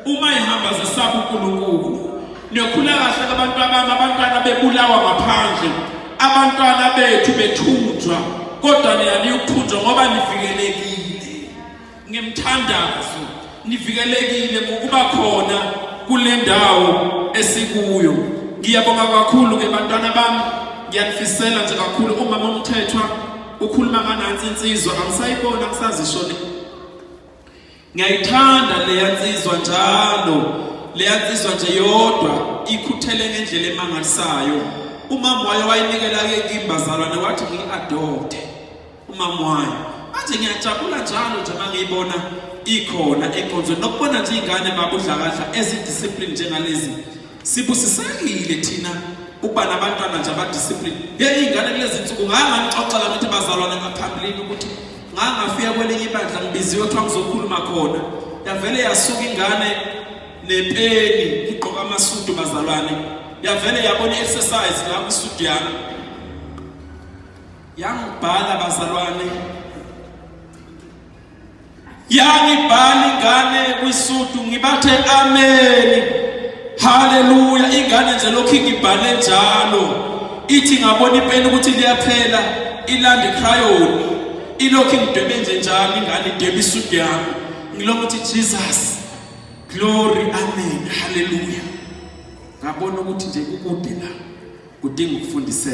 uma ihamba zisaba uNkulunkulu niyokhula kahle abantu abami abantwana bebulawa ngaphandle abantwana bethu bethunjwa kodwa nina niyukuthunjwa ngoba nivikelekile ngemthandazo nivikelekile ngokuba khona kule ndawo esikuyo ngiyabonga kakhulu ke bantwana bami ngiyanifisela nje kakhulu umama omthethwa ukhuluma nganansi insizwa angisayibona angisazishoni Ngiyayithanda leya nsizwa njalo. Leya nsizwa nje yodwa ikhuthele ngendlela emangalisayo. Umama wayo wayinikela ke kimbazalwane wathi ngiyi-adopte. Umama wayo. Manje ngiyajabula njalo nje uma ngiyibona ikhona enkonzweni nokubona nje iy'ngane babudlakadla ezidiscipline njengalezi sibusisekile thina ukuba nabantwana nje abadiscipline ye iy'ngane kulezi nsuku ngangangixoxela ukuthi bazalwane ngaphambilini ukuthi ngangafika kwelinye ibandla ngibiziwe kuthiwa ngizokhuluma khona yavele yasuka ingane nepeni igqoka amasudu bazalwane yavele yabona i-exercise la kwisudu yami yangibhala bazalwane yangibhala ingane kwisudu ngibathe ameni haleluya ingane nje lokhu ingibhale njalo ithi ngabona ipeni ukuthi liyaphela ilanda ikhrayoni ilokhu ingidwebe nje njalo ingane idwebe isudu yami ngilokhu ukuthi jesus glory amen haleluya ngabona ukuthi nje kukude la kudinga ukufundiseka